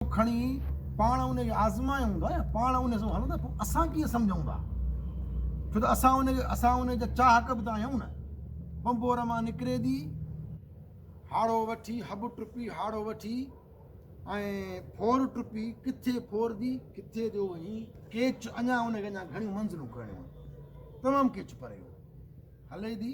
اهو کڻي پاڻ ان کي آزمايو هوندو آهي پاڻ ان سان هلندو پوء اسان ڪيئن سمجهون ٿا ڇو ته اسان ان کي اسان ان جا چاهڪ به ته آهيون نه بمبور مان نڪري ٿي هاڙو وٺي هٻ ٽپي هاڙو وٺي ۽ ڦور ٽپي ڪٿي ڦور ٿي ڪٿي جو هي ڪيچ اڃا ان کي اڃا گهڻيون منزلون ڪرڻيون تمام ڪيچ پريو هلي ٿي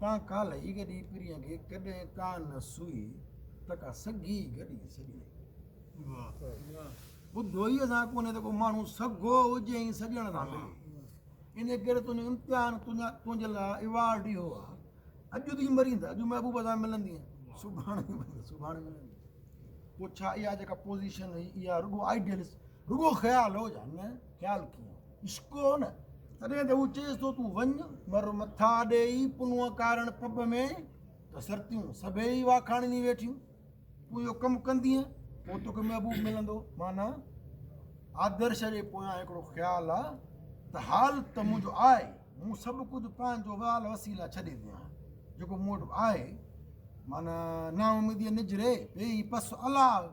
تان ڪالهه ئي گڏي پرينء کي ڪڏهن ڪا نه سوئي ته ڪا سگهي گڏي سڄڻي. واهه ٻڌوئي سان ڪونهي ته ڪو ماڻهو سگهو هجي ۽ سڄڻ سان ملي. ان ڪري تنهنجو امتحان تنهنجي لاء ايوارڊ ئي هو ها. اڄ تون مرين ته اڄ محبوب سان ملندين. سڀاڻي مرين ته سڀاڻي ملندين. پوء ڇا اها جيڪا پوزيشن هئي اها رڳو آئيڊيلس رڳو خيال هو يا نه؟ خيال ڪيئن هو؟ عشق هو نه؟ تڏهن ته هو چيس ٿو تون وڃ، مر مٿا ڏيئي پنهونء ڪارڻ پٻ ۾، ته سرتيون سڀيئي ئي واکاڻينديون ويٺيون. تون اهو ڪم ڪندينء، پوء توکي محبوب ملندو. معنيٰ، آدرش جي پويان هڪڙو خيال آ، ته حال ته منهنجو آ ئي، مون سڀ ڪجهه پنهنجو وال وسيء لاء ڇڏي ڏنا آهن. جيڪو مون وٽ آهي، معنيٰ نااميديء نجري پيئي پس الاء.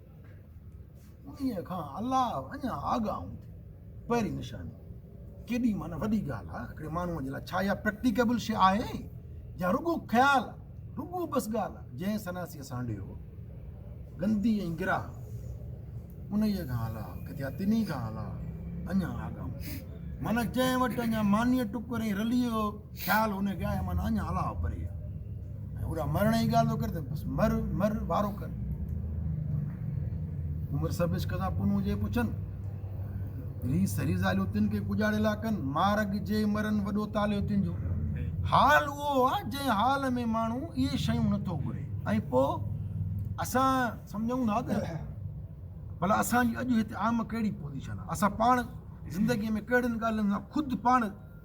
انهيء کان علاوه اڃا آڳاهون ٿي پهرين نشاني ڪيڏي معنيٰ وڏي ڳالهه آهي هڪڙي ماڻهوء جي لاء ڇا اها پريڪٽيڪيبل شيء آهي يا رڳو خيال آهي رڳو بس ڳالهه آهي جنهن سناسيء سانڍيو هو گندي ۽ گراهه انهيء کان علاوه ڪٿي آهي تنهي کان علاوه اڃا آڳاهون ٿي معنيٰ جنهن وٽ اڃا مانيء ٽڪر ۽ رليء جو خيال هوني گيا هي معنيٰ اڃا الاهو پري آ ۽ هوڏا مرڻ جي ڳالهه ٿو ڪري ته بس مر مر وارو ڪر عمر سبش کسان پنهون جي پڇن ري سري زاليو تن کي ڪجاڙي لا ڪن مارگ جي مرن وڏو تاليو تن جو حال اهو آ جنهن حال ۾ ماڻهو اهي شيون نٿو گهري ۽ پوء اسان سمجهون ها ته بلا اسان جي اڄ هتي عام ڪهڙي پوزيشن آ اسان پاڻ زندگي ۾ ڪهڙين ڳالهين سان خود پاڻ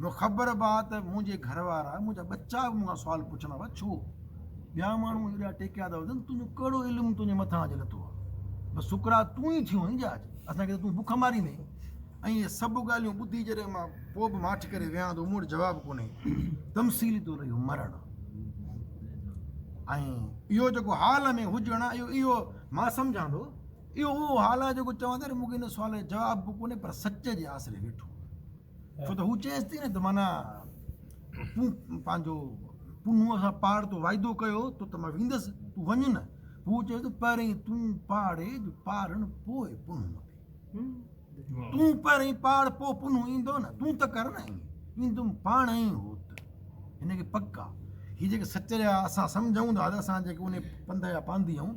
مون خبر با ته منهنجي گهر وارا منهنجا ٻچا به مون کان سوال پڇندا هئا ڇو ٻيا ماڻهو ايڏا ٽيڪيا ٿا وزن تنهنجو ڪهڙو علم تنهنجي مٿان اڄ لٿو آ بس شڪرا تون ئي ٿيو آهين اڄ اسان کي تون بک ماري ماريندين ۽ اهي سڀ ڳالهيون ٻڌي جڏهن مان پوء به ماٺ ڪري ويهان ٿو مون وٽ جواب ڪونهي تمثيلي طور اهو مرڻ ۽ اهو جيڪو حال ۾ هجڻ اهو اهو مان سمجهان ٿو اهو اهو حال آهي جيڪو چوان ٿا ته مون کي ان سوال جو جواب به ڪونهي پر سچ جي آسري ويٺو آهيان ڇو ته هو چيس ٿي نه ته معنيٰ تون پنهنجو پنهونء سان پاڙ تو واعدو ڪيو تو ته مان ويندس تون وڃ نه هو چيس ته پهرين تون پاڙي جو پاڙڻ پوء پنهون ڏي تون پهرين پاڙ پوء پنهون ايندو نه تون ته ڪر نه ايندم پاڻ ئي هو ته هن کي پڪ آهي هي جيڪي سچ جا اسان سمجهون ٿا ته اسان جيڪي ان پنڌ جا پانڌي آهيون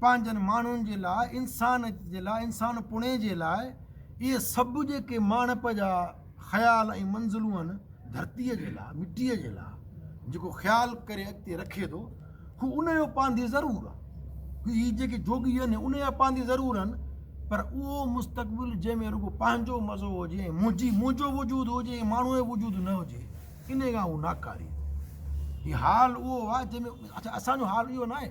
پنهنجن ماڻهن جي لاء، انسان جي لاء، انسان پڻي جي لاء اهي سڀ جيڪي ماڻهپ جا خيال ۽ منزلون آهن، ڌرتيء جي لاء، مٽيء جي لاء جيڪو خيال ڪري اڳتي رکي ٿو، هو ان جو پانڌي ضرور آهي. هي جيڪي جوڳي آهن، هي ان جا پانڌي ضرور آهن، پر اهو مستقبل جنهن ۾ رڳو پنهنجو مزو هجي ۽ منهنجي، منهنجو وجود هجي ۽ ماڻهوء جو وجود نه هجي، انهيء کان هو ناڪاري آهي. هي حال اهو آهي، جنهن ۾ اسان جو حال اهو ناهي.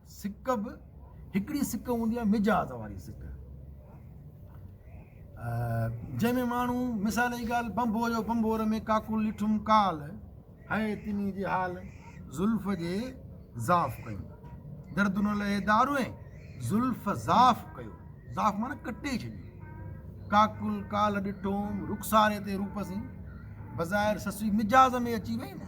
سڪ به هڪڙي سڪ هوندي آهي مجاز واري سڪ جنهن ۾ ماڻهو مثال جي ڳالهه بمبو جو بمبور ۾ ڪاڪو لٺم ڪال هي تني جي حال زلف جي ضاف ڪيو درد نه لهي دارو زلف ضاف ڪيو ضاف مانا ڪٽي ڇڏيو ڪاڪل ڪال ڏٺو رخساري تي روپ سين بظاهر سسي مجاز ۾ اچي وئي نه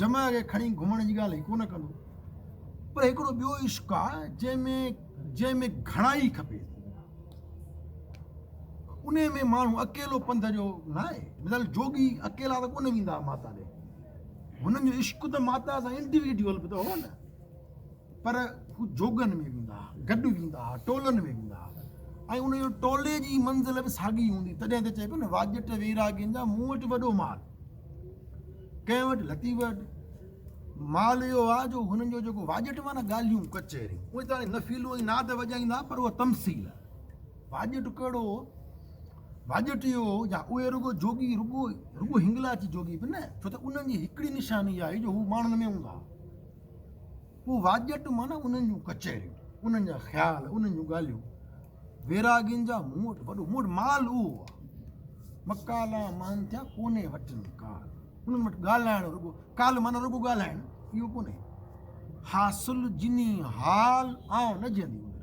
جمع کي کڻي گهمڻ جي ڳالهه هي ڪونه ڪندو پر هڪڙو ٻيو عشق آ جنهن ۾ جنهن ۾ گهڻائي کپي ان ۾ ماڻهو اڪيلو پنڌ جو نه آهي مثال جوڳي اڪيلا ته ڪونه ويندا ماتا ڏي هنن جو عشق ته ماتا سان انڊيويڊيول به ته هو نه پر هو جوڳن ۾ ويندا ها، گڏ ويندا ها، ٽولن ۾ ويندا ها ۽ ان جو ٽولي جي منزل به ساڳي هوندي. تڏهن ته چئبو نه واڄٽ ويراڳين جا مون وٽ وڏو مال. ڪنهن وٽ لطيف وٽ مال اهو آ جو هنن جو جيڪو واڄٽ معنيٰ ڳالهيون ڪچهريون اهي ته هاڻي نفيلو ۽ ناد وڄائيندا پر اها تمثيل آ. واڄٽ ڪهڙو هو؟ واڄٽ اهو هو جا اهي رڳو جوڳي رڳو رڳو هنگلاج جوڳي به نه ڇو ته انهن جي هڪڙي نشاني آهي جو هو ماڻهن ۾ هوندا ها. پوء واڄٽ معنيٰ انهن جون ڪچهريون، انهن جا خيال، انهن جون ڳالهيون، ويراڳين جا مون وٽ وڏو، مون وٽ مال اهو آهي. مڪالا مهن ٿيا ڪونهي وٽن ڪال، انهن وٽ ڳالهائڻ رڳو، ڪال معنيٰ رڳو ڳالهائڻ اهو ڪونهي. حاصل جني حال آئون نه جيئندي هئين.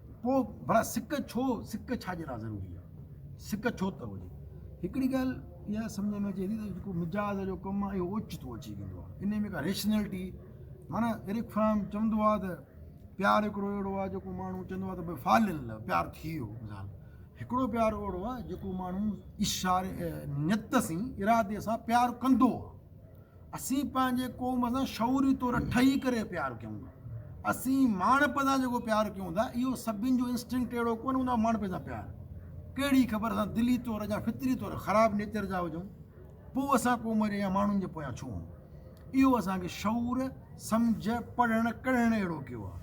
پوء ڀلا سڪ ڇو، سڪ ڇا جي لا ضروري آ، سڪ ڇو ته هجي. هڪڙي ڳالهه اها سمجهه ۾ اچي ٿي ته جيڪو مجاز جو ڪم آ اهو اوچتو اچي ويندو آ، انهي ۾ ڪا ريشنلٽي معنيٰ ايرڪ فرام چوندو آ ته پيار هڪڙو اهڙو آ جيڪو ماڻهو چوندو آ ته ڀاء فال ان لو پيار ٿي ويو مثال هڪڙو پيار اهڙو آ جيڪو ماڻهو اشاري نيت سين ارادي سان پيار ڪندو آ اسين پنهنجي قوم سان شعوري طور ٺهي ڪري پيار ڪيون ٿا. اسين ماڻهپي سان جيڪو پيار ڪيون ٿا، اهو سڀني جو انسٽنڪٽ اهڙو ڪونه هوندو آهي، ماڻهپي سان پيار. ڪهڙي خبر اسان دلي طور يا فطري طور خراب نيچر جا هجون، پوء اسان قوم جي يا ماڻهن جي پويان ڇو هون؟ اهو اسان کي شعور، سمجهه، پڙهڻ، ڪڙهڻ اهڙو ڪيو آهي،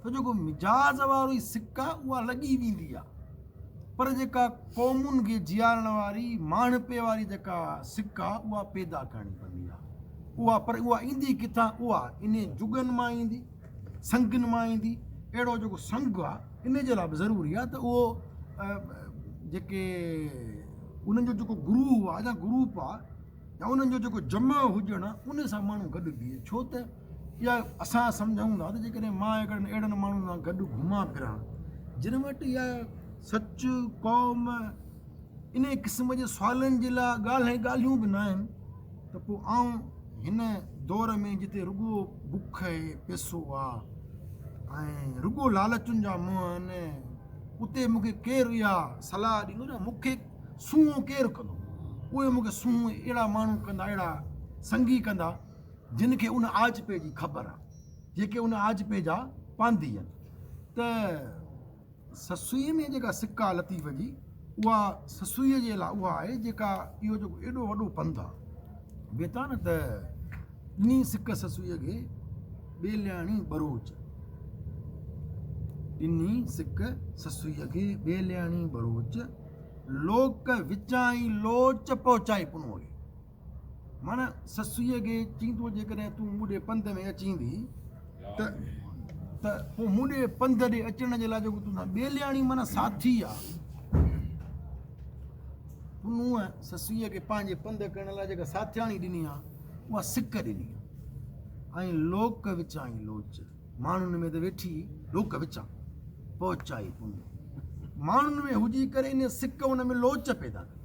ته جيڪو مجاز وارو ئي سڪ آهي، اها لڳي ويندي آهي. پر جيڪا قومن کي جيارڻ واري ماڻهپي واري جيڪا سڪ آ اها پيدا ڪرڻي پوندي آ اها پر اها ايندي ڪٿان اها انهي جڳن مان ايندي سنگن مان ايندي اهڙو جيڪو سنگ آ ان جي لاء به ضروري آ ته اهو جيڪي انهن جو جيڪو گروه آ جا گروپ آ يا انهن جو جيڪو جمع هجڻ آ ان سان ماڻهو گڏ بيهي ڇو ته يا اسان سمجهون ٿا ته جيڪڏهن مان هڪڙن اهڙن ماڻهن سان گڏ گهمان ڦران جن وٽ اها سچ، قوم، انهيء قسم جي سوالن جي لاء ڳالهين ڳالهيون به ناهن ته پوء آئون هن دور ۾ جتي رڳو بک ۽ پيسو آ ۽ رڳو لالچن جا منهن آهن اتي مون کي ڪير اها صلاح ڏيندو ته مون کي سونهون ڪير ڪندو؟ اهي مون کي سونهون اهڙا ماڻهو ڪندا اهڙا سنگي ڪندا جن کي ان آجپي جي خبر آ جيڪي ان آجپي جا پانڌي آھن ته سسئي ۾ جيڪا سڪ آ لطيف جي اها سسئي جي لاء اها آھي جيڪا اهو جيڪو ايڏو وڏو پنڌ آ بي ٿا نه ته ڏني سڪ سسئي کي ٻيلياڻي ٻروچ ڏني سڪ سسئي کي ٻيلياڻي ٻروچ لوڪ وچائين لوچ پهچائي پنوڙي ماڻ سسئيء کي چيندو، جيڪڏهن تون مون ڏي پنڌ ۾ اچين ٿي ته ته پوء مون ڏي پنڌ ڏي اچڻ جي لاء جيڪو تون ٻيلياڻي معنيٰ ساٿي آ. پنهونء سسئيء کي پنهنجي پنڌ ڪرڻ لاء جيڪا ساٿياڻي ڏني آ، اها سڪ ڏني آ. ۽ لوڪ وچائين لوچ، ماڻهن ۾ ته ويٺي لوڪ وچان، پهچائي پنهونء، ماڻهن ۾ هجي ڪري ان سڪ ان ۾ لوچ پيدا ڪئي.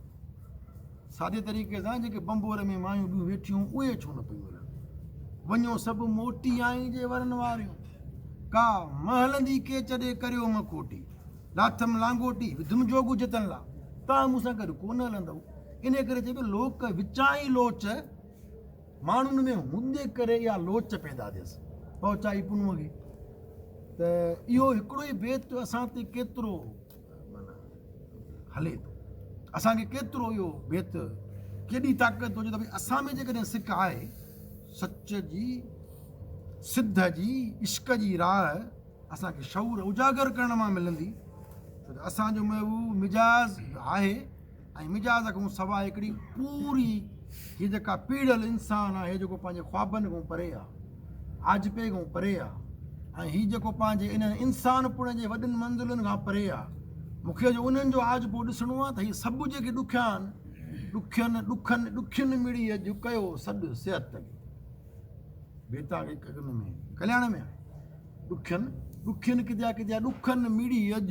سادي طريقي سان جيڪي بنبور ۾ مايون ٻيون ويٺيون اهي ڇو نه پيون هلن وڃو سڀ موٽي آئين جي ورن واريون ڪا مهلندي ڪيچ ڏي ڪريو مکوٽي لاٿم لانگوٽي وڌم جوڳ جتن لا تان مون سان گڏ ڪو نه هلندو ان ڪري چئبو لوڪ وچائي لوچ ماڻهن ۾ هوندي ڪري اها لوچ پيدا ٿيس پهچائي پنو کي ته اهو هڪڙو ئي بيت اسان تي ڪيترو هلي ٿو اسان کي ڪيترو اهو بيت ڪيڏي طاقت هجي ته ڀائی اسان ۾ جيڪڏهن سک آهي سچ جي سڌ جي عشق جي راهه اسان کي شعور اجاگر ڪرڻ مان ملندي ته اسانجو محبوب مزاج آهي ۽ مجاز کان سواء هڪڙي پوري هي جيڪا پيڙهيل انسان آهي جيڪو پنهنجي خوابن کان پري آهي آجپي کان پري آهي ۽ هي جيڪو پنهنجي انهن انسان پڻ جي وڏين منزلن کان پري آهي مونکي جو انهن جو آج پو ڏسڻو آهي ته هي سڀ جيڪي ڏکيا آهن ڏکين ڏکن ڏکين مڙي جو ڪيو سڏ صحت تڪي بيتا هڪ هڪ ۾ ڪلياڻ ۾ ڏکين ڏکين ڪديا ڪديا ڏکن مڙي اڄ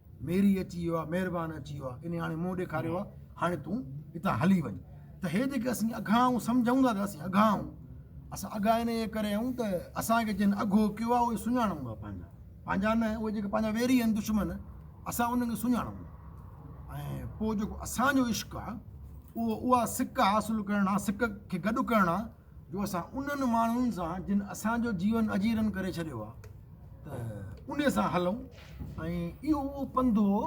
ميري اچي ويو آ مهربان اچي ويو آ انهي هاڻي منهن ڏيکاريو آ هاڻي تون هتان هلي وڃ ته هي جيڪي اسين اگها آهيون سمجهون ٿا ته اسين اگها آهيون اسان اگها انهي ڪري آهيون ته اسان کي جن اگهو ڪيو آ اهي سڃاڻون ٿا پنهنجا پنهنجا نه اهي جيڪي پنهنجا ويري آهن دشمن اسان انهن کي سڃاڻون ٿا ۽ پوء جيڪو اسان جو عشق آ اهو اها سڪ حاصل ڪرڻ آ سڪ کي گڏ ڪرڻ آ جو اسان انهن ماڻهن سان جن اسان جو جيون اجيرن ڪري ڇڏيو آهي ته انهي سان هلون ۽ اهو اهو پنڌ هو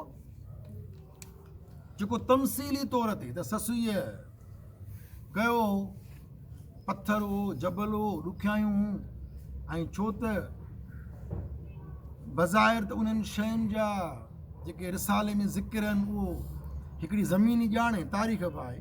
جيڪو تمثيلي طور تي ته سسئيء ڪيو هو پٿر هو جبل هو ڏکيائيون هون ۽ ڇو ته بظاهر ته انهن شين جا جيڪي رسالي ۾ ذڪر آهن اهو هڪڙي زميني ڄاڻ ۽ تاريخ به آهي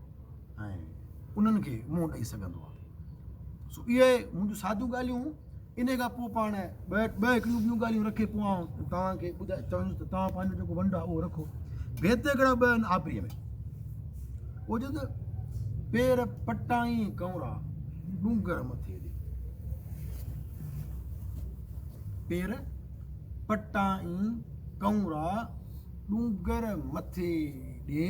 ۽ انهن کي منهن ڏئي سگهندو آهي. سو اهي منهنجون ساديون ڳالهيون ان کان پوء پاڻ ٻه ٻه هڪڙيون ٻيون ڳالهيون رکي پوء آئون توهان کي ٻڌائي چوندس ته توهان پنهنجو جيڪو ونڊ آهي اهو رکو ڀيت هڪڙا ٻه آهن آپريء ۾ اهو چوندس پير پٽائي ڪنورا ڏونگر مٿي ڏي پير پٽائي ڪنورا ڏونگر مٿي ڏي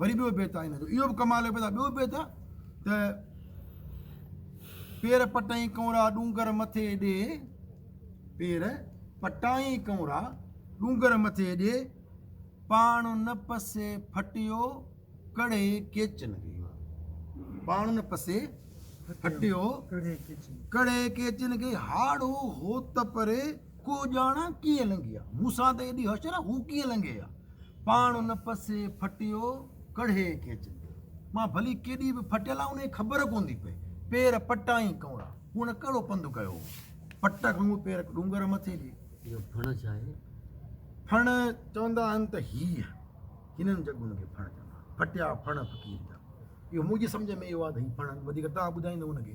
وري ٻيو بيت آهي هن جو اهو به ڪمال جو بيت آهي ٻيو بيت آهي ته پير پٽائين ڪنورا ڏونگر مٿي ڏي پير پٽائين ڪنورا ڏونگر مٿي ڏي پاڻ نه پسي ڦٽيو ڪڙي ڪيچن کي پاڻ نه پسي ڦٽيو ڪڙي ڪيچن کي هاڙو هوت پري ڪو ڄاڻ آ ڪيئن لنگهي آ. مون سان ته ايڏي حشر آ هو ڪيئن لنگهي آ. پاڻ ان پسي ڦٽيو ڪڙهي ڪي چندي. مان ڀلي ڪيڏي به ڦٽيل آ انهي خبر ڪوندي پئي. پير پٽائين ڪئوڙا. هن ڪهڙو پنڌ ڪيو هو. پٽ کان اهي پير ڏونگر مٿي جي. اهو ڦڻ ڇا آهي؟ ڦڻ چوندا آهن ته هيء هنن جڳهن کي ڦڻ چوندا آهن. ڦٽيا ڦڻ فقير جا. اهو منهنجي سمجهه ۾ اهو آ ته هي ڦڻ وڌيڪ توهان ٻڌائيندو ان کي.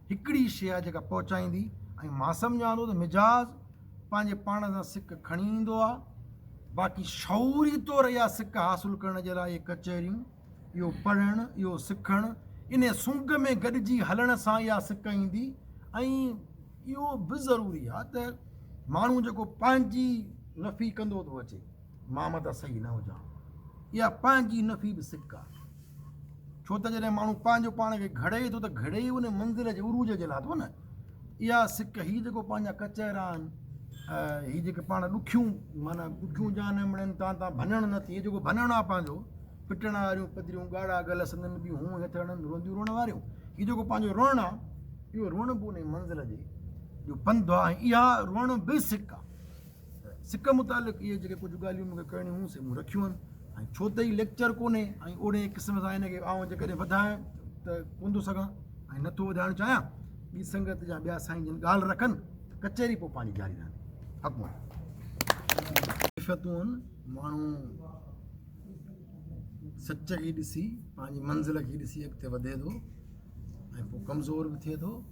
هڪڙي شيء آهي جيڪا پهچائيندي ۽ مان سمجهان ٿو ته مزاج پنهنجي پاڻ سان سڪ کڻي ايندو آهي باقي شعوري طور اها سڪ حاصل ڪرڻ جي لاء اهي ڪچهريون اهو پڙهڻ اهو سکڻ ان سونگ ۾ گڏجي هلڻ سان اها سڪ ايندي ۽ اهو به ضروري آهي ته ماڻهو جيڪو پنهنجي رفي ڪندو ٿو اچي مان متان صحيح نه هجان. اها پنهنجي نفي به صدق آ. ڇو ته جڏهن ماڻهو پنهنجو پاڻ کي گهڙي ٿو ته گهڙي ئي ان منزل جي عروج جي لاء ٿو نه. اها صدق هي جيڪو پنهنجا ڪچهرا آهن، هي جيڪي پاڻ ڏکيون معنيٰ ڏکيون جا نه مڙين تان تان ڀڃڻ نه ٿئي جيڪو ڀڃڻ آ پنهنجو، پٽڻ واريون پڌريون ڳاڙها ڳل سندن به هون هٿ هڻن رونديون روئڻ واريون. هي جيڪو پنهنجو روئڻ آ، اهو روئڻ به ان منزل جي جو پنڌ آ ۽ اها روئڻ به صدق آ. سڪ متعلق اهي جيڪي ڪجهه ڳالهيون مون کي ڪرڻيون هيون سي مون رکيون آهن ۽ ڇو ته هي ليڪچر ڪونهي ۽ اوڙي قسم سان هن کي آئون جيڪڏهن وڌايان ته ڪونه ٿو سگهان ۽ نٿو وڌائڻ چاهيان ٻي سنگت جا ٻيا سائين جن ڳالهه رکن ته ڪچهري پوء پنهنجي جاري رهندي حق مون ماڻهو سچ کي ڏسي پنهنجي منزل کي ڏسي اڳتي وڌي ٿو ۽ پوء ڪمزور به ٿئي ٿو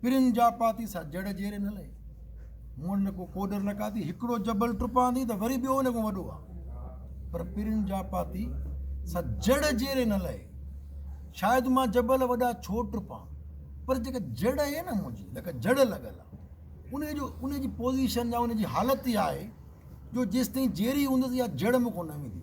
پرين جاپاتي سا جڙ جيري نه لئي مون نه ڪو ڪوڏر نه ڪاتي هڪڙو جبل ٽپان ٿي ته وري ٻيو ان کان وڏو آ پر پرين جاپاتي سا جڙ جيري نه لئي شايد مان جبل وڏا ڇو ٽپان پر جيڪا جڙ آهي نه منهنجي لکا جڙ لڳل آ ان جو ان جي پوزيشن يا ان جي حالت اها آهي جو جيستائين جيري هوندس يا جڙ مون کان نه ويندي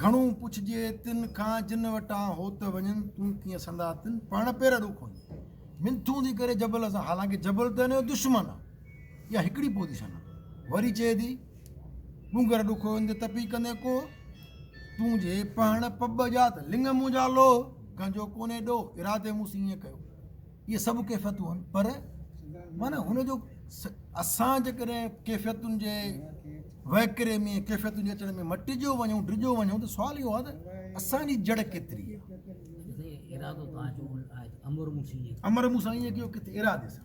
گهڻو پڇجي تن کان جن وٽان هو ته وڃن تون ڪيئن سندا تن پاڻ پير اڏو ڪونهي منٿون ٿي ڪري جبل سان حالانڪه جبل ته هن دشمن آهي اها هڪڙي پوزيشن آهي وري چئي ٿي ڏونگر ڏکو اندر تپي ڪندي ڪو تون جي پهڻ پٻ جات لنگ منهنجا لو گنجو ڪونهي ڏو ارادي مون سين ڪيو اهي سڀ ڪيفيتون آهن پر معنيٰ هن جو اسان جيڪڏهن ڪيفيتن جي وهڪري ۾ ڪيفيتن جي اچڻ ۾ مٽجو وڃون ڊڄو وڃون ته سوال اهو آهي ته اسان جي جڙ ڪيتري امر مون سائين جو ڪٿي ارادي سان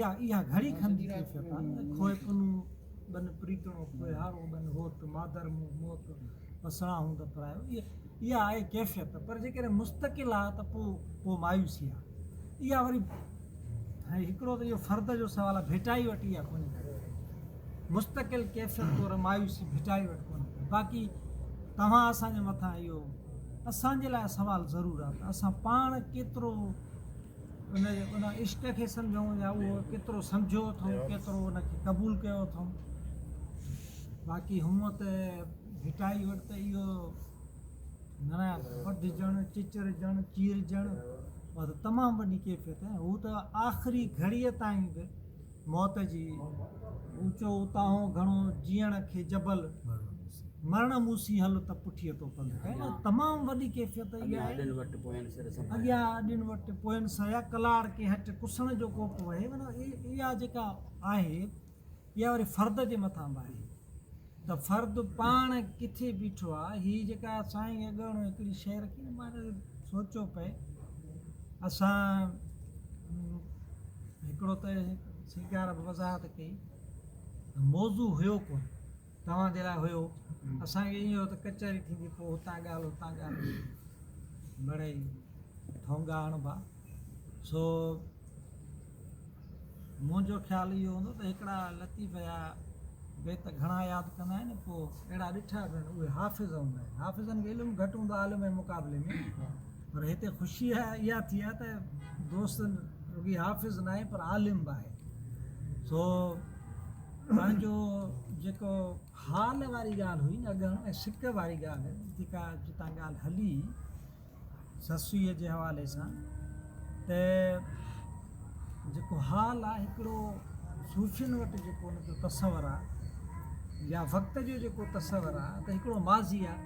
يا اها گهڙي کن جي ڪيفيت آ نه کوهه پنون ٻن پريتڻو کوهيارو ٻن هوت مادر مون موت وسڻا هون ته پرايو اها آهي ڪيفيت پر جيڪڏهن مستقل آ ته پو پو مايوسي آ اها وري هي هڪڙو ته اهو فرد جو سوال آ ڀٽائي وٽ اها ڪونهي مستقل ڪيفيت طور مايوسي ڀٽائي وٽ ڪونهي باقي توهان اسان جي مٿان اهو اسان جي لاء سوال ضرور آ ته اسان پاڻ ڪيترو ان جي ان عشق کي سمجهون يا اهو ڪيترو سمجهيو اٿئون ڪيترو ان کي قبول ڪيو اٿئون باقي هونئن ته ڀٽائي وٽ ته اهو نارايا ٻڌجڻ چچرجڻ چيرجڻ اها ته تمام وڏي ڪيفيت هو ته آخري گهڙيء تائين به موت جي اوچو اتاهون گهڻو جيئڻ کي جبل مرڻ مون سين هل ته پٺيء تو پنڌ ڪيو تمام وڏي ڪيفيت اها آهي اڳيان اڏن وٽ پوين سر سمايا اڳيان اڏن وٽ پوين سمايا ڪلار ڪي هٽ ڪسڻ جو ڪوپ وهي معنيٰ اها جيڪا آهي اها وري فرد جي مٿان به آهي ته فرد پاڻ ڪٿي بيٺو آ. هي جيڪا سائين اڳاڻو هڪڙي شيء رکي نه مان سوچيو پئي اسان هڪڙو ته سيگار به وضاحت ڪئي ته موضوع هيو ڪونه توهان جي لاء هيو اسان کي ائين هيو ته ڪچهري ٿيندي پوء هتان ڳالهه هتان ڳالهه مڙئي ٺونگا هڻبا سو منهنجو خيال اهو هوندو ته هڪڙا لطيف يا بيت گهڻا ياد ڪندا آهن پوء اهڙا ڏٺا به آهن اهي حافظ هوندا آهن حافظن کي علم گهٽ هوندو عالم جي مقابلي ۾ پر هتي خوشي اها ٿي آهي ته دوست رڳي حافظ ناهي پر عالم به آهي سو پنهنجو جيڪو حال واري ڳالهه هئي نه اڳ ۽ سڪ واري ڳالهه جيڪا جتان ڳالهه هلي سسئي جي حوالي سان ته جيڪو حال آ هڪڙو صوفين وٽ جيڪو ان جو تصور آ يا وقت جو جيڪو تصور آ ته هڪڙو ماضي آ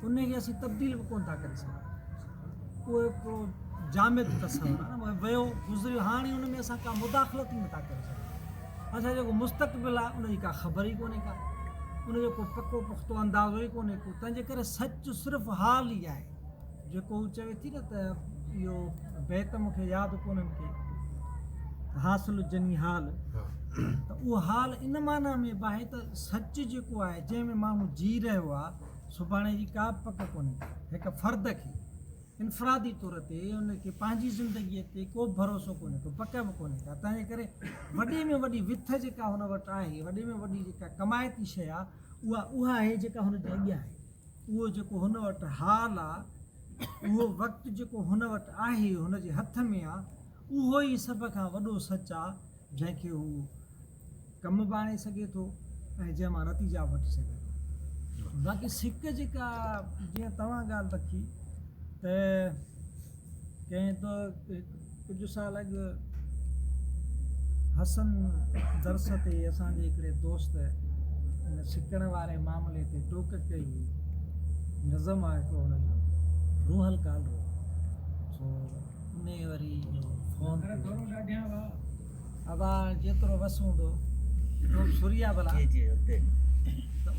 ان کي اسين تبديل به ڪون ٿا ڪري سگهون اهو هڪڙو جامد تصور آ ويو گذريو هاڻي ان ۾ اسان ڪا مداخلت ئي نه ٿا ڪري سگهون اسان جو جيڪو مستقبل آهي ان جي ڪا خبر ئي ڪونهي ڪا ان جو ڪو پڪو پختو اندازو ئي ڪونهي ڪو تنهنجي ڪري سچ صرف حال ئي آهي جيڪو هو چوي ٿي نه ته اهو بيت مون کي ياد ڪونهن ڪي حاصل جني حال ته اهو حال ان معنيٰ ۾ به آهي ته سچ جيڪو آهي جنهن ۾ ماڻهو جي رهيو آهي سڀاڻي جي ڪا به پڪ ڪونهي هڪ فرد کي انفرادي طور تي ان کي پنهنجي زندگيء تي ڪو به ڀروسو ڪونهي ڪو پڪ به ڪونهي ڪا تنهنجي ڪري وڏي ۾ وڏي وٿ جيڪا هن وٽ آهي وڏي ۾ وڏي جيڪا ڪمائتي شيء آهي اها اها آهي جيڪا هن جي اڳيان آهي اهو جيڪو هن وٽ حال آهي اهو وقت جيڪو هن وٽ آهي هن جي هٿ ۾ آهي اهو ئي سڀ کان وڏو سچ آهي جنهن کي هو ڪم به آڻي سگهي ٿو ۽ جنهن مان نتيجا به وٺي سگهي ٿو باقي سڪ جيڪا جيئن توهان ڳالهه رکي ته ڪنهن ته ڪجهه سال اڳ حسن درس تي اسان جي هڪڙي دوست ان سڪڻ واري معاملي تي ٽوڪ ڪئي هئي نظم آهي هڪڙو ان جو روح القال رو سو انهيء وري جو فون ٿيو ابا جيترو وس هوندو تو به سوريا ڀلا ته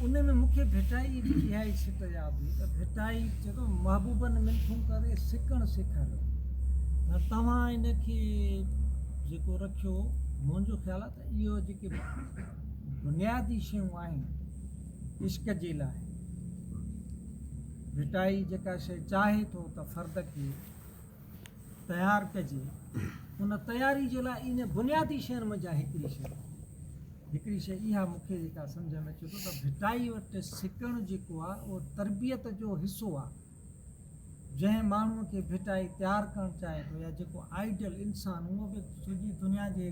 ان ۾ مون کي ڀٽائي جي اها ئي سٽ ياد هئي ته ڀٽائي چئي ٿو محبوبن منٿون ڪري سڪڻ سيکاريو ۽ توهان ان کي جيڪو رکيو منهنجو خيال آهي ته اهو جيڪي بنيادي شيون آهن عشق جي لاء ڀٽائي جيڪا شيء چاهي ٿو ته فرد کي تيار ڪجي ان تياري جي لاء ان بنيادي شين منجهان هڪڙي شي هڪڙي شي اها مون کي جيڪا سمجھ ۾ اچي ٿو ته ڀٽائي وٽ سکڻ جيڪو آ اهو تربيت جو حصو آ جنهن ماڻهو کي ڀٽائي تيار ڪرڻ چاهي ٿو يا جيڪو آئيڊل انسان اهو به سڄي دنيا جي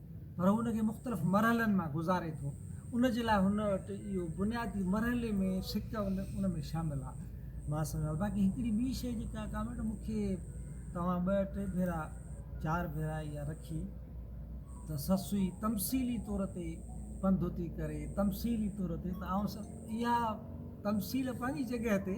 پر هو ان کي مختلف مرحلن مان گذاري ٿو. ان جي لاء هن وٽ اهو بنيادي مرحلي ۾ سڪ ان ۾ شامل آهي. مان سمجهان ٿو. باقي هڪڙي ٻي شيء جيڪا ڪامريڊ مون کي توهان ٻه ٽي ڀيرا چار ڀيرا اها رکي ته سسئي تمثيلي طور تي پنڌوتي ڪري تمثيلي طور تي ته آئون اها تمثيل پنهنجي جڳهه تي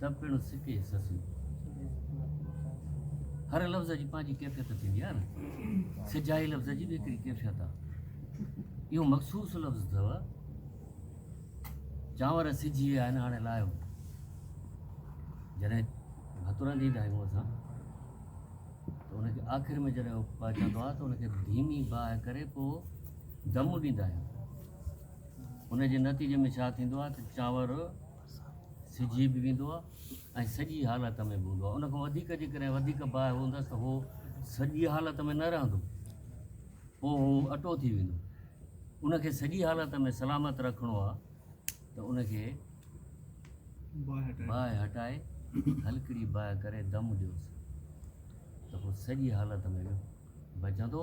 ته پڻ سڪي سسيون. هر لفظ جي پنهنجي ڪيفيت ٿيندي آهي نه سجائي لفظ جي به هڪڙي ڪيفيت آهي اهو مخصوص لفظ اٿو چانور سجي ويا آهن هاڻي لاهيو جڏهن هٿ رنڌيندا آهيون اسان ته ان کي آخر ۾ جڏهن پهچندو آهي ته ان کي ڌيمي باهه ڪري پوء دم ڏيندا آهيون ان جي نتيجي ۾ ڇا ٿيندو آهي ته چانور سجي به ويندو آهي ۽ سڄي حالت ۾ به هوندو آهي ان کان وڌيڪ جيڪڏهن وڌيڪ باهه هوندس ته هو سڄي حالت ۾ نه رهندو پوء هو اٽو ٿي ويندو ان کي سڄي حالت ۾ سلامت رکڻو آهي ته ان کي باهه هٽائي هلڪڙي باهه ڪري دم ڏيوس ته هو سڄي حالت ۾ بچندو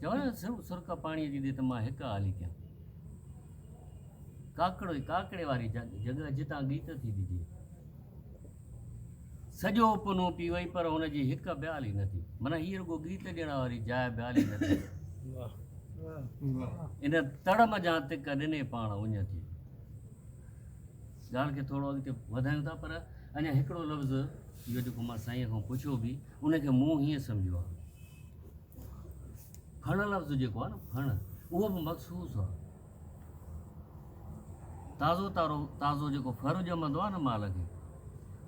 چوڻ سرڪ پاڻيء جي ڏي ته مان هڪ آلي ڪيان. ڪاڪڙوئي، ڪاڪڙي واري جڳهه جتان ڳيت ٿي ڏجي. سڄو پنو پي وئي پر هن جي هڪ به آلي نه ٿي. معنيٰ هيء رڳو ڳيت ڏيڻ واري جاء به آلي نه ٿي. ان تڙ منجهان تڪ ڏني پاڻ اڃ ٿي. ڳالهه کي ٿورو اڳتي وڌايون ٿا پر اڃا هڪڙو لفظ اهو جيڪو مان سائينء کان پڇيو به ان کي مون هيئن سمجهيو آهي. ڦڻ لفظ جيڪو آهي نه ڦڻ اهو به مخصوص آهي. تازو تارو تازو جيڪو ڦر ڄمندو آهي نه مال کي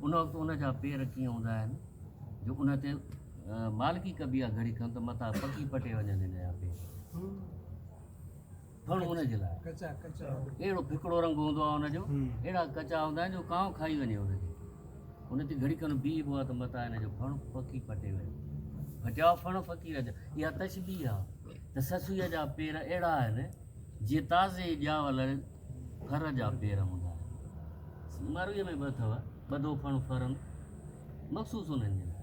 ان وقت ان جا پير ڪيئن هوندا آهن جو ان تي مالڪي ڪبي آهي گهڙي کن ته متان پکي پٽي وڃن ان جا پير ٿڻ ان جي لاء اهڙو ڦڪڙو رنگ هوندو آهي ان جو اهڙا ڪچا هوندا آهن جو ڪانء کائي وڃي ان کي ان تي گهڙي کن بيهبو آهي ته متان ان جو ڦڻ پکي پٽي ويو پٽيا ڦڻ فقير جا اها تشبيهه آهي ته سسويء جا پير اهڙا آهن جيئن تازي ڄاول ڦر جا پير هوندا مرويء ۾ به اٿو ٻڌو ڦڻ ڦرن مخصوص انهن جي لاء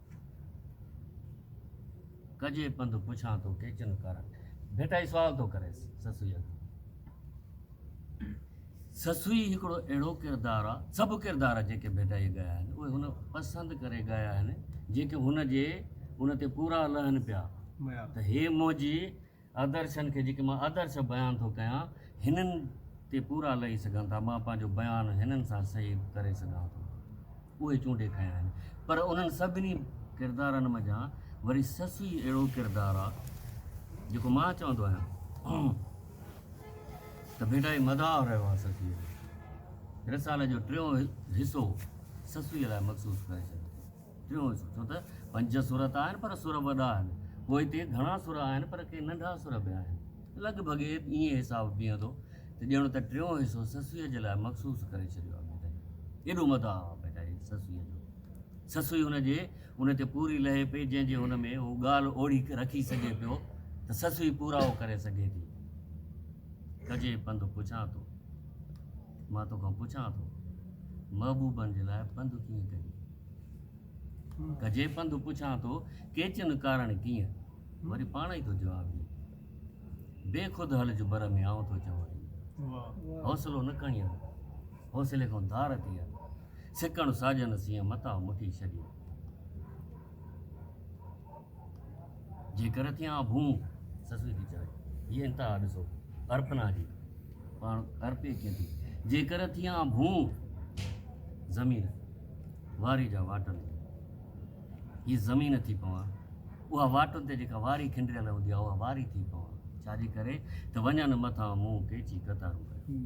ڪجي پنڌ پڇان ٿو ڪيچن ڪر. ڀٽائي سوال ٿو ڪريس سسئيء کان. سسئي هڪڙو اهڙو ڪردار آ، سڀ ڪردار جيڪي ڀٽائيء ڳايا آهن، اهي هن پسند ڪري ڳايا آهن، جيڪي هن جي ان تي پورا لهن پيا ته هي منهنجي آدرشن کي جيڪي مان آدرش بيان ٿو ڪيان، هنن تي پورا لهي سگهن ٿا. مان پنهنجو بيان هنن سان صحيح به ڪري سگهان ٿو. اهي چونڊي کنيا آهن. پر انهن سڀني ڪردارن منجهان وري سسئي اهڙو ڪردار آ، جيڪو مان چوندو آهيان ته ڀيٽا هي مداح رهيو آ سسئي جو. رسالي جو ٽيون حصو سسئي لاء مخصوص ڪري ڇڏيو ٿي. ٽيون حصو ڇو ته پنج سر ته آهن پر سر وڏا آهن پوء هتي گهڻا سر آهن پر ڪي ننڍا سر به آهن لڳ ڀڳ ائين حساب بيهندو ته ڄڻ ته ٽيون حصو سسئي جي لاء مخصوص ڪري ڇڏيو آهي ڀيٽائي ايڏو مداح آهي ڀيٽائي سسئي جو سسئي هن جي ان تي پوري لهي پئي جنهن جي هن ۾ هو ڳالهه اوڙي رکي سگهي پيو ته سسئي پورائو ڪري سگهي ٿي ڪجي پنڌ پڇان ٿو. مان توکان پڇان ٿو محبوبن جي لاء پنڌ ڪيئن ڪجي؟ ڪجي پنڌ پڇان ٿو ڪيچن ڪارڻ ڪيئن؟ وري پاڻ ئي ٿو جواب ڏي بي خود هلج بر ۾ آئون ٿو چوان ايئن حوصلو نه کڻيان حوصلي کان ڌار ٿي آ سڪڻ ساجن سيئن متان مٺي ڇڏيان. جي ڪر ٿيان ڀونء سسئي ٿي چوي. هيء انتها ڏسو ارپنا جي. پاڻ ارپي ڪيئن ٿي. جي ڪر ٿيان ڀونء زمين واري جا واٽن تي هيء زمين ٿي پوان. اها واٽن تي جيڪا واري کنڊريل هوندي آهي اها واري ٿي پوان. ڇا جي ڪري ته وڃن مٿان مون ڪيچي قطارون ڪيون.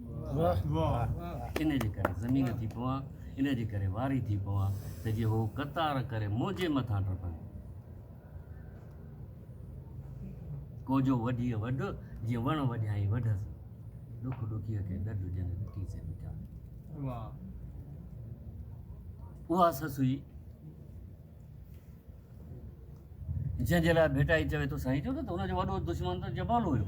ان جي ڪري زمين ٿي پوان. ان جي ڪري واري ٿي پوان ته جي هو قطار ڪري منهنجي مٿان ٽپن. ڪوجو وڍيء وڍ، جيئن وڻ وڍيائين وڍس، ڏک ڏکيء کي ڏڍ، جنھن ڏٺي سي ڏٺائين. اها سس هئي، جنھن جي لاء ڀٽائي چوي ٿو سائين جو نه ته هن جو وڏو دشمن ته جبل هيو.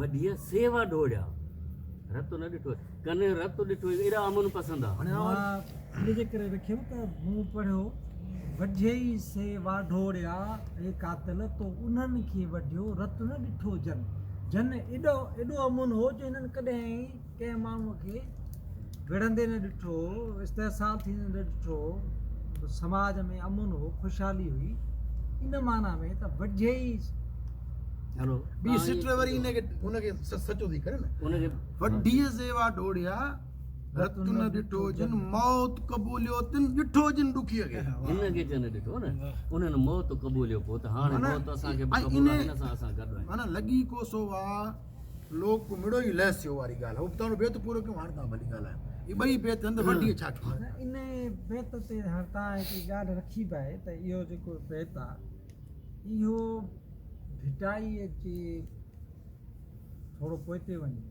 وڍيء سيوا ڊوڙيا، رت نه ڏٺو ڪن رت ڏٺو ايڏا امن پسند آ. هاڻي آواز ان جي ڪري رکيم ته مون پڙهيو وڍيء سيوا ڊوڙيا اي قاتل تو انهن کي وڍيو رت نه ڏٺو جن جن ايڏو ايڏو امن هو جو هنن ڪڏهن ڪنهن ماڻهوء کي وڙهندي نه ڏٺو هو، استحصال ٿيندي نه ڏٺو هو، سماج ۾ امن هو، خوشحالي هئي، ان معنيٰ ۾ ته وڍيئي زيوا ڊوڙيا، رت نه ڏٺو جن موت قبوليو تن ڏٺو جن ڏکيء کي. هن کي ڪنهن نه ڏٺو نه، انهن موت قبوليو پوء ته هاڻي موت اسان کي به قبول آهي، هن سان اسان گڏ آهيون. معنيٰ لڳي ڪو سو واهه. لوڪ ڪو مڙو ئي لهس ٿيو واري ڳالهه ابتاڻو بيت پورو ڪيون هاڻ تان ڀلي ڳالهايون هي ٻئي بيت هنڌ وڍي ڇا ٿيو ان بيت تي هر تان هڪ ڳالهه رکي به آهي ته اهو جيڪو بيت آهي اهو ڀٽائي جي ٿورو پوئتي وڃي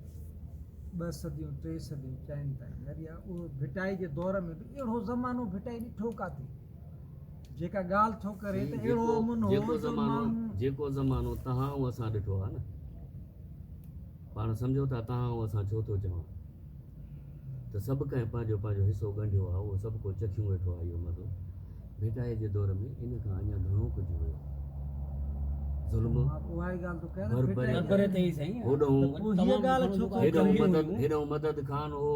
ٻه صديون ٽي صديون چئن تائين اهو ڀٽائي جي دور ۾ به اهڙو زمانو ڀٽائي ڏٺو ڪاٿي جيڪا ڳالهه ٿو ڪري ته اهڙو امن هو جو ماڻهو. جيڪو زمانو تهان ۽ اسان ڏٺو آهي نه، پاڻ سمجهو ٿا تهان ۽ اسان ڇو ٿو چوان ته سڀ ڪنهن پنهنجو پنهنجو حصو ڳنڍيو آهي، اهو سڀ ڪو چکيون ويٺو آهي اهو مزو. ڀيٽائي جي دور ۾ ان کان اڃا گهڻو ڪجهه هيو. ظلم، بربري، هيڏانهن مدد خان هو.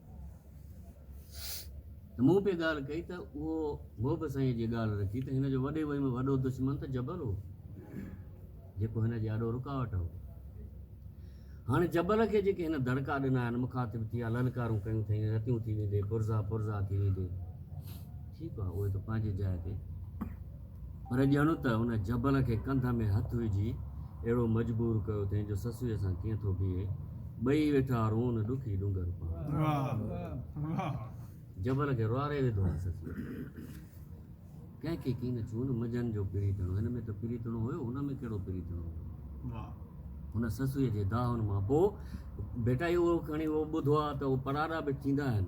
ته مون پي ڳالهه ڪئي ته اهو هو به سائينء جي ڳالهه رکي ته هن جو وڏي وئي ۾ وڏو دشمن ته جبل هو جيڪو هن جي آڏو رڪاوٽ هو. هاڻي جبل کي جيڪي هن دڙڪا ڏنا آهن، مخاطب ٿيا، للڪارون ڪيون اٿئين، رتيون ٿي ويندي، پرزا پرزا ٿي ويندي، ٺيڪ آهي اهي ته پنهنجي جاء تي. پر ڄڻ ته ان جبل کي ڪنڌ ۾ هٿ وجهي اهڙو مجبور ڪيو اٿئين جو سسويء سان ڪيئن ٿو بيهي. ٻئي ويٺا رون ڏکي ڏونگر پاڻ. جبل کي روئاري وڌو آهي سسويء. ڪنهن کي ڪين چون منجهن جو پريتڻو. هن ۾ ته پريتڻو هيو ان ۾ ڪهڙو پريتڻو هيو. هن سسويء جي دانهن مان پوء ڀيٽائي اهو کڻي اهو ٻڌو آهي ته اهو پڙاڏا به ٿيندا آهن.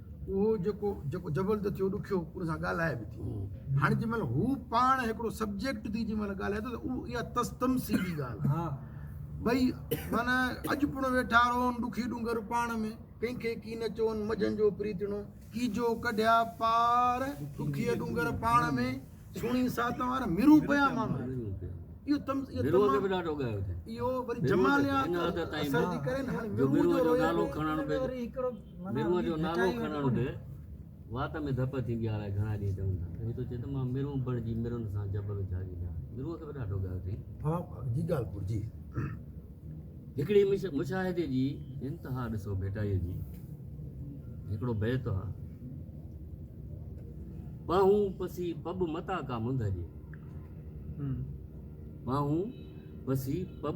اهو جيڪو جيڪو جبل ته ٿيو ڏکيو ان سان ڳالهائي به ٿي هاڻي جنهن مهل هو پاڻ هڪڙو سبجيڪٽ ٿي جنهن مهل ڳالهائي ٿو ته اها تستمسيلي ڳالهه آهي ٻئي معنيٰ اڄ پڻ ويٺا رهون ڏکي ڏونگر پاڻ ۾ ڪنهن کي ڪي نه چون مجهن جو پريتڻو ڪي جو ڪڍيا پار ڏکي ڏونگر پاڻ ۾ سهڻي سات وار مرون پيا مامر اهو تم اهو وري جماليات اثر ٿي ڪري نه هاڻي مرون جو رويو ميرون جو نالو کڻڻ به وات ۾ ڌپ ٿيندي آهي، الاء گهڻا ڏينهن چون ٿا ته هي ٿو چئي ته مان ميرون بڻجي ميرن سان جبل جهاڳي ڏيان. ميرون کي به ڏاڍو ڳاهيو اٿئي. ها جي ڳالهه گهرجي. هڪڙي مشاهدي جي انتها ڏسو ڀيٽائيء جي هڪڙو بيت آهي. پاهون پسي پٻ متان ڪا منڌ هجي. پاهون پسي پٻ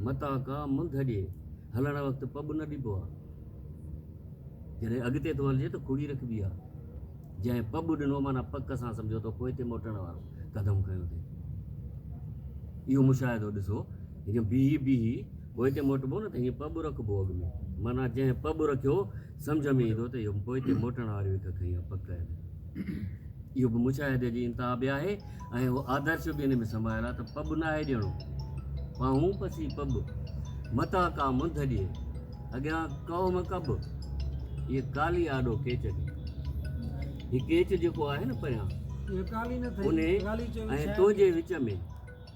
متان ڪا منڌ هجي. هلڻ وقت پٻ نه ڏبو آ. جڏهن اڳتي ٿو هلجي ته کڙي رکبي آ. جنهن پٻ ڏنو معنيٰ پڪ سان سمجهو ته پوئتي موٽڻ وارو قدم کنيو ٿئي. اهو مشاهدو ڏسو ته جيئن بيهي بيهي پوئتي موٽبو نه ته هيئن پٻ رکبو اڳ ۾، معنيٰ جنهن پٻ رکيو سمجهه ۾ ايندو ته اهو به پوئتي موٽڻ واريون هڪ کنيون پڪ آهن. اهو به مشاهدي جي انتها به آهي ۽ اهو آدرش به ان ۾ سمايل آهي ته پٻ ناهي ڏيڻو، پانهون پسي پٻ، متان ڪا منڌ ڏئي، اڳيان قوم ڪٻ، هيء ڪالي آڏو ڪيچ ڏي. هي ڪيچ جيڪو آهي نه پريان، انهي ۽ تنهنجي وچ ۾.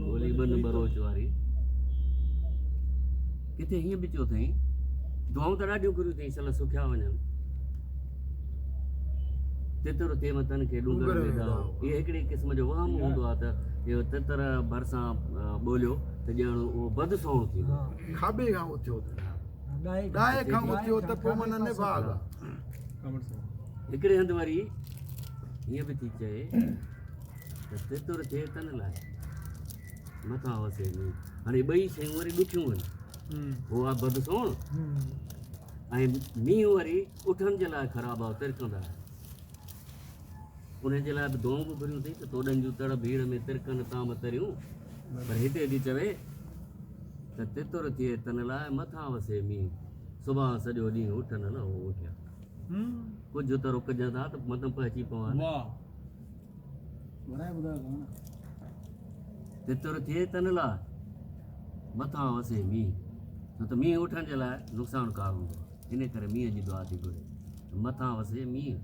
ڳولي ٻن ٻروچ واري ڪٿي هيئن به چيو اٿئي دعائون ته ڏاڍيون گهريون اٿئي سل سکيا وڃن تتر ٿي وتن کي ڏونگر ويدا هي هڪڙي قسم جو وهم هوندو آهي ته اهو تتر ڀرسان ٻوليو ته ڄڻ اهو بد سوڻ ٿيندو کاٻي کان اٿيو ڏاهي کان اٿيو ته پوء من نه باغ هڪڙي هنڌ وري هيئن به ٿي چئي ته ستر ٿئي تن لاء مٿا هوسي ۾ هاڻي ٻئي شيون وري ڏکيون آهن هو آ بد سوڻ ۽ مينهن وري اٺن جي لاء خراب آ ترڪندا ان جي لاء به دونگ گهريون ٿي ته توڏن جون تڙ ڀيڙ ۾ ترڪن تام تريون پر هتي ٿي چوي ته تتر ٿئي تن لاء مٿا وسي مينهن صبح سڄو ڏينهن اٺن لهو اٺيا ڪجهه ته رڪجن ٿا ته مطلب پهچي پوان تتر ٿئي تن لاء مٿان وسي مينهن ڇو ته مينهن اٺن جي لاء نقصانڪار هوندو آهي ان ڪري مينهن جي دعا ٿي گهري ته مٿان وسي مينهن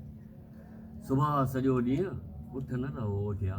صبح سڄو ڏينهن اٺ نه رهو اٺيا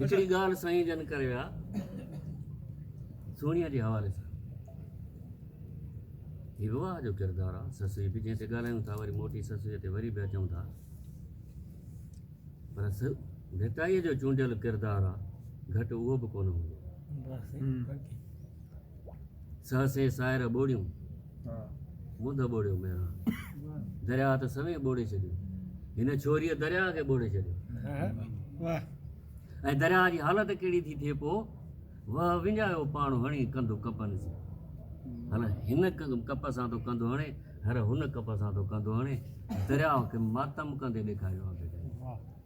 هڪڙي ڳالهه سائين جن ڪري ويا سهڻيء جي حوالي سان هي به واهه جو ڪردار آهي سسئي به جنهن تي ڳالهايون ٿا وري موٽي سسئي تي وري به اچون ٿا پر ڀٽائيء جو چونڊيل ڪردار آهي گهٽ اهو به ڪونه هوندو سهه سين سائر ٻوڙيون، منڌ ٻوڙيو ميران، درياهه ته سوين ٻوڙي ڇڏيو، هن ڇوريء درياهه کي ٻوڙي ڇڏيو. ۽ درياهه جي حالت ڪهڙي ٿي ٿئي پوء؟ وهه وڃايو پاڻ هڻي ڪنڌ ڪپن سين. هر هن ڪپ سان ٿو ڪنڌ هڻي، هر هن ڪپ سان ٿو ڪنڌ هڻي، درياهه کي ماتم ڪندي ڏيکاريو آهي.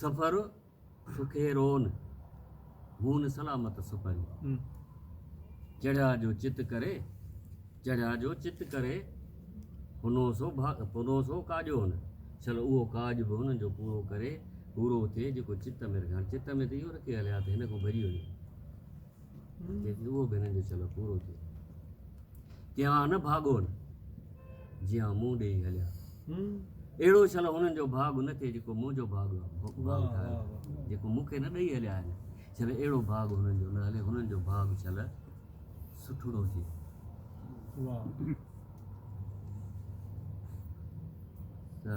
سفر سکيرون مون سلامت سپري. چڙهيا جو چت ڪري، چڙهيا جو چت ڪري، پنو سو پنو سو ڪاڄون. شل اهو ڪاڄ به هن جو پورو ڪري، پورو ٿئي جيڪو چت ۾ رکي. هاڻي چت ۾ ته اهو رکي هليا ته هن کان ڀڄي وڃي. اهو به هنن جو چلو پورو ٿيو. ڪيئان نه ڀاڳون، جيئان مون ڏيئي هليا. اهڙو چلو هنن جو ڀاڳ نه ٿئي، جيڪو منهنجو ڀاڳ ٺاهيو، جيڪو مون کي نه ڏيئي هليا آهن. چلو اهڙو ڀاڳ هنن جو نه هلي، هنن جو ڀاڳ چلو سٺڙو ٿئي. ته.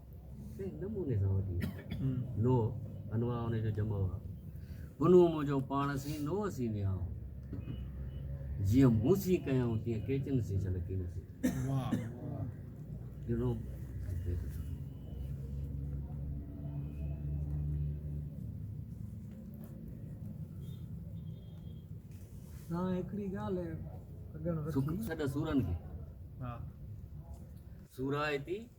ڪنهن نموني سان وٺي نو انواع ان جو جمع هئا بنو منهنجو پاڻ سين نو سين نياء جيئن مون سين ڪيائون تيئن ڪيچن سين ڇل ڪين سين جنو نا هڪڙي ڳالهه سڏ سورن کي سورا ايتي